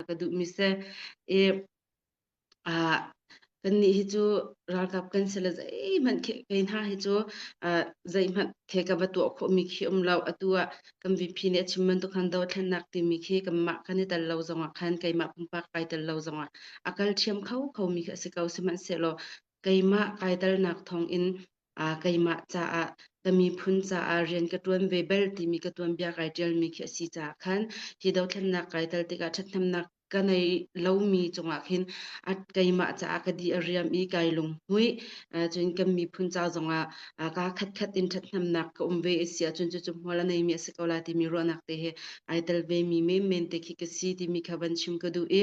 ka duhmi seh i uh, kannih hi cu ralkap kan si le zeihmanh kei hna hi cu uh, zeihmanh the ka va tuah khawhmi khi um lo atu ah kan VP nih a chim bantuk khan do thlennak timi khi kanmah kan i tel lo zongah khan keimah pumpak kai tel lo zongah a kal thiam kho khomi khi a si ko sihmanhsehlaw keimah kai telnak thawng in aa keimah caah ka miphun caah rian ka ṭuan ve bel timi ka tuanbia kai ṭialmi khi a si caah khan hi dothlennak kai tal tikah ṭhathnemnak ka nei lomi cungah khin a keimah caah ka di a riam i kai lunghmuih cun kan miphun ca zongah kaa khatkhat in ṭhathnemnak ka um ve a si ahcun cucu hmual a neimi a si ko la timi ruahnak te he ai tel vemi menmen te khi ka si timi kha van chim ka duh i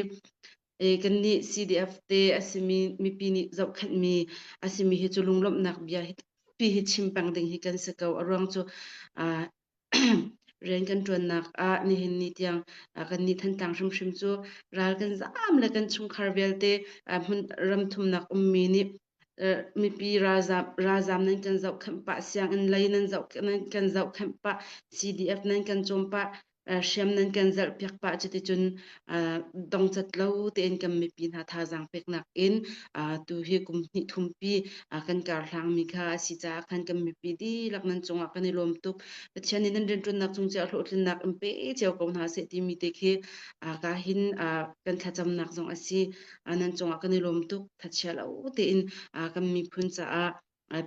e kannih CDF te a simi mipi nih zohkhenhmi a simi hi cu lunglawmhnak bia hi pi hi chim peng ding hi kan si ko a ruang cu uh, rian kan tuannak ah nihin ni tiang uh, kan nih thantlang hrimhrim cu ral kan zaam le kan chungkhar vialte uh, hmun ram thumnak ummi nih mipi ralzam ralzam nan kan zohkhenh pah sianginn lei nan zoh nan kan zohkhenh pah CDF nan kan cawm pah hriam nan kan zelh piak pah cuticun dongcat lo tein kan mipi hna thazaang pek nakin tu hi kum hnih thumpi kan karhlangmi kha asi caah khan kan mipi dihlak nan cungah kan i lawm tuk Pathian nih nan rianṭuannak cung ciah hlawhtlinnak in pe cio ko hna seh timi te khi ka hin kan thlacamnak zong asi nan cungah kan i lawm tuk thachia lo tein kan miphun caah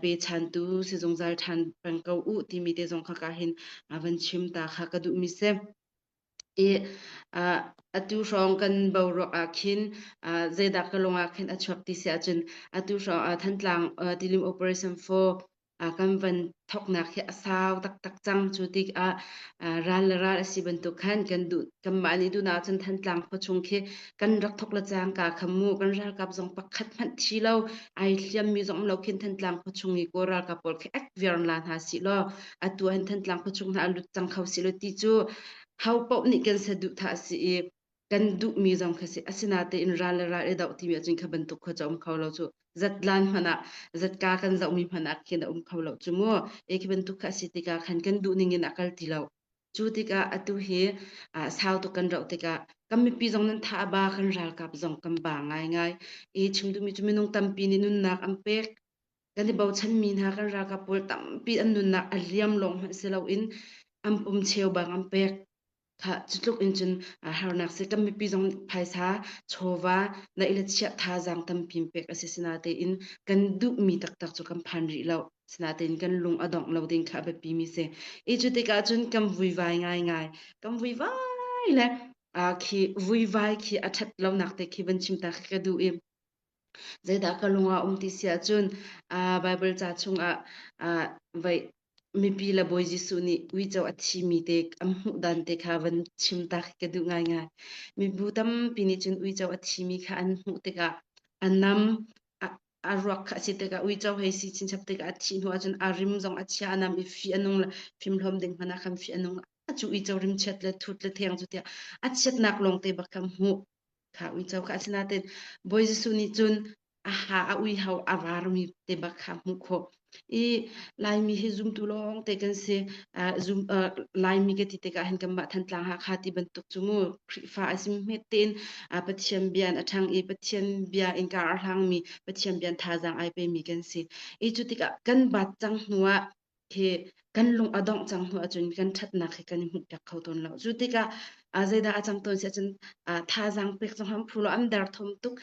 pe tu si zungzal ṭhan peng ko u timi te zong kha ka hin van chim ta kha ka duh mi si i atu hrawng kan bo ruak ah khin zeidah ka lungah khin a chuak ti si ahcun atu hrawng Thantlang Tilim Operation 4 a kan van thoknak hi a sau taktak cang cu tikah ral le ral a si bantuk khan kan duh kanmah nih dunah cun Thantlang khua chung khi kan rak thok le cang ka khamu kan ralkap zong pakhat hmanh thi lo ai hliammi zong lo khin Thantlang khua chung i kaw ralkap pawl khi ek viar la hna si law atu an Thantlang khua chung hna a lut cang kho si lo ti cu ho paoh nih kan saduh tha si i kan duhmi zong kha si asinatein ral le ral i doh timi ahcun kha bantuk khua ca um kho lo cu zatlan hmanh ah zatka kan zohmi hmanh ah khin a um kho lo cu mu e khi bantuk kha asi tikah khan kan duhning in a kal ti lo cu tikah atu hi sau tuk kan roh tikah kan mipi zong nan tha ba kan ralkap zong kan ba ngai ngai e chim duhmi cu minung tampi nih nunnak an pek kan i bochanmi hna kan ralkap pawl tampi an nunnak a liam lawng hmanh si loin an pum cheu bang an pek Kha cutluk in cun harnak seh kan mipi zong phaisa, chawva, naih le chiah thazaang tampi pek a si sinatein kan duhmi taktak cu kan phan rih lo. Sinatein kan lung a dongh lo ding kha a biapimi si. Hi cu tikah cun kan vuivai ngaingai. Kan vuivai le khi vuivai khi a ṭhat lonak te khi van chim ta khi ka duh i Zeidah ka lung a um ti si ahcun Baibal ca chungah mipi le Bawi Jesuh nih uico a thimi te an hmuh dan te kha van chim tak hi ka duh ngaingai. Mibu tampi nih cun uico a thimi kha an hmuh tikah a nam, a ruak kha a si tikah uico hei si chinchap tikah a thih hnu ahcun a rim zong a chia, a nam i fi a nung le fimhlawm ding hmanh ah khan fi a nung. Cu uico rimchiat le thut le theng cu tiah a chiatnak lawngte bak kha hmuh. Kha uico kha asinain Bawi Jesuh nih cun a ha a uiho a varmi te bak kha hmuh khawh i Laimi hi zumtu lawngte kan si uh, zum, uh, Laimi ka ti tikah hin kanmah Thantlang Hakha ti bantuk cu mu Khrihfa a si hmet tein uh, Pathian bia in a ṭhang i Pathian bia in kaa arhlangmi Pathian bia in thazaang ai pemi kan si i cu tikah kan bat cang hnuah hi kan lung a dongh cang hnu ahcun kan ṭhatnak hi kan i hmuhpiak kho tawn lo. Cu tikah a zeidah a cang tawn si ahcun thazaang pek cu ham phu lo am derthawm tuk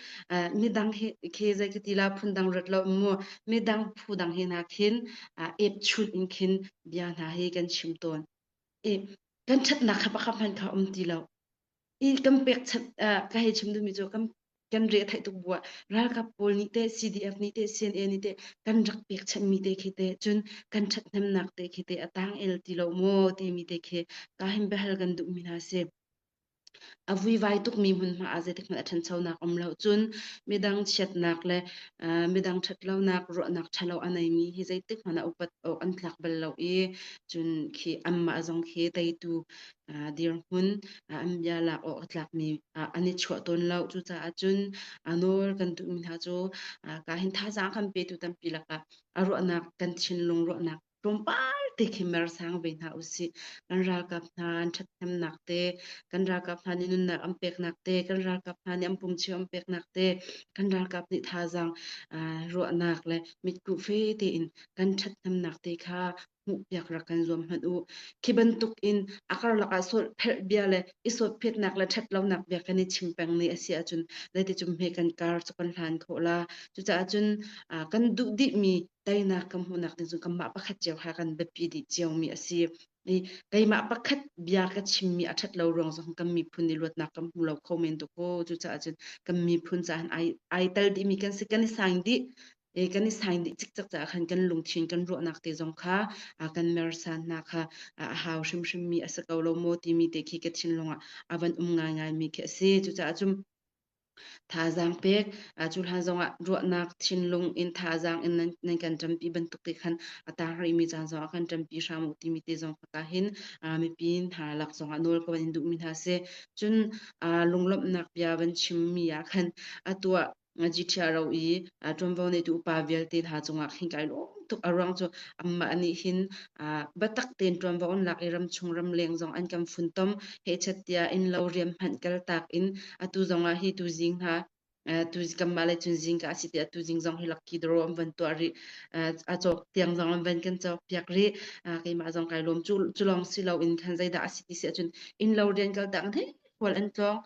midang hi khi zei ka ti la phun dang rat lo mu midang phu dang hi na khin ep chun in khin bia hna hi kan chim tawn i kan ṭhatnak kha pakhat hmanh kha um ti lo. i kan pekchanh ka hei chim duhmi cu kan kan re theih tuk bu ah ralkap pawl nih te CDF nih te CNA nih te kan rak pekchanh mi te khi te cun kan ṭhathnemnak te khi te a tang el ti lo maw timi te khi ka him behal kan duh mi hna si a vuivai tuk mi hmunhma ah zeitik hmanh a ṭhanchonak um lo cun midang chiatnak le midang ṭhatlonak ruahnak ṭhalo a nei mi hi zeitik hmanh a upat awk an tlak bal lo i cun khi anmah zong khi teitu dirhmun an bia lak awk a tlakmi an i chuah tawn lo. Cucaah cun nawl kan duhmi hna cu ka hin thazaang kan petu tampi lakah a ruahnak kan thinlung ruahnak tlawmpal te khi mer sang ve hna usih. Kan ralkap hna an ṭhathnemnak te, kan ralkap hna nih nunnak an peknak te, kan ralkap hna nih an pumchim an peknak te, kan ralkap nih thazaang ruahnak le mitkuh fe tein kan ṭhathnemnak te kha hmuhpiak rak kan zuam hmanh u. Khi bantuk in a karlak ah sawlh pherh bia le i sawtphiatnak le ṭhatlonak bia kan i chim peng ni a si ahcun zeiti cum hme kan kar cu kan hlan khawh la. Cucaah cun kan duh dihmi teinak kan hmuhnak ding cu kanmah pakhat cio ha kan biapi dih ciomi a si. I keimah pakhat bia ka chimmi a ṭhat lo ruang zong kan miphun i luatnak kan hmu lo kho men tuk ko. Cucaah cun kan miphun caah ai, ai tel dihmi kan si kan i sang dih. e kan i sain dih cikcek caah khan kan lungthin kan ruahnak te zong kha a kan mersan hna kha a hau hrimhrim mi a si ko lo maw timi te khi ka thinlung ah a van um ngaingai mi khi a si cucaah cun thazaang pek cu hlan zongah ruahnak thinlung in thazaang in nan, nan kan ṭampi bantuk te khan a taar rihmi caan zongah kan ṭampi hram u timi te zong ka hin mipi hna lak zongah nawl ka van in duhmi hna si cun lunglawmhnak bia van chimmi ah khan a tuah Ngachithia ro i ṭuanvo neitu upa vialte hna cungah khin kai lawm tuk. A ruang cu amah nih hin biatak tein ṭuanvo an lak i ramchung ramleng zong an kan funtom. Hechat tiah innlo riam hmanh kaltak in atu zongah hi tuzing hna tu kanmah le cun zingka a si tiah tu zing zong hi lakki doro an van tuah rih a cawk tiang zong an van kan cawk piak rih keimah zong kai lawm cu cu lawng si lo in khan zeidah a si ti si ahcun innlo rian kaltak an hei kual an tlawng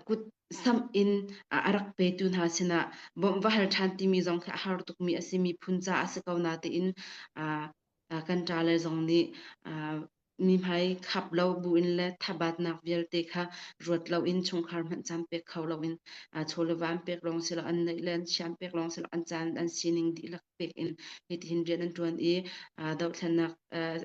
kut samh in a rak petu hna sinah bawmh va hal ṭhan timi zong khi a har tukmi a si. Miphun caah a si ko na tiin kan ṭa le zong nih mihmai khap lo buin le thabatnak vialte kha ruat loin chungkhar hmanh caan pek kho loin chawle van pek lawng si lo an neih le an siam pek lawng si lo an caan an sining dihlak pek in hitin rian an ṭuan i dohthlennak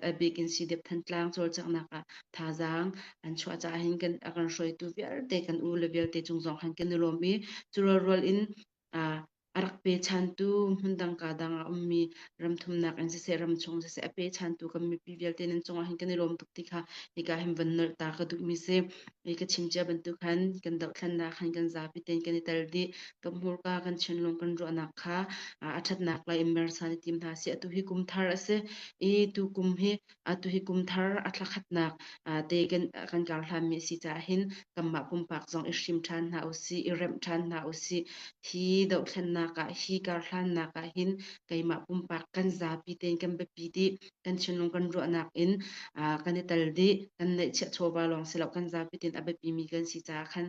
a bik in Sidep Thantlang cawlcanghnak ah thazaang an chuah caah hin kan a kan hruaitu vialte kan u le vialte cung zong khan kan i lawm i cu rualrual in a rak pe chantu hmundang ka dang a ummi ramthumnak in siseh ramchung siseh a pe chantu kan mipi vialte nan cungah hin kan i lawm tuk ti kha hika hin van nolh ta ka duhmi si i ka chim cia bantuk khan kan dohthlennak khan kan zapi tein kan i tel dih ka hmurka kan chinlung kan ruahnak kha a ṭhatnak lai in mersan i tim hna sih. Atu hi kum thar a si i tu kum hi atu hi kum thar a thlakhatnak te kan kan kar hlanmi si caah hin kanmah pumpak zong i hrim ṭhan hna u sih, i remh ṭhan hna u sih. Hi dohthlennak ah hi karhlannak ah hin keimah pumpak kan zapi tein kan biapi dih, kan chinlung kan ruahnak in kan i tel dih, kan neih chiah chawva lawng si lo kan zapi tein a biapimi kan si caah khan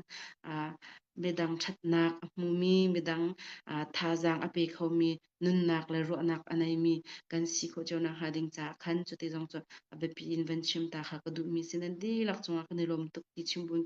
midang ṭhatnak a hmumi, midang aa thazaang a pe khomi nunnak le ruahnak a neimi kan si khawh cio nak hnga ding caah khan cuti zong cu a biapi in van chim ta kha ka duhmi si. Nan dihlak cungah kan i lawm tuk ti chim buin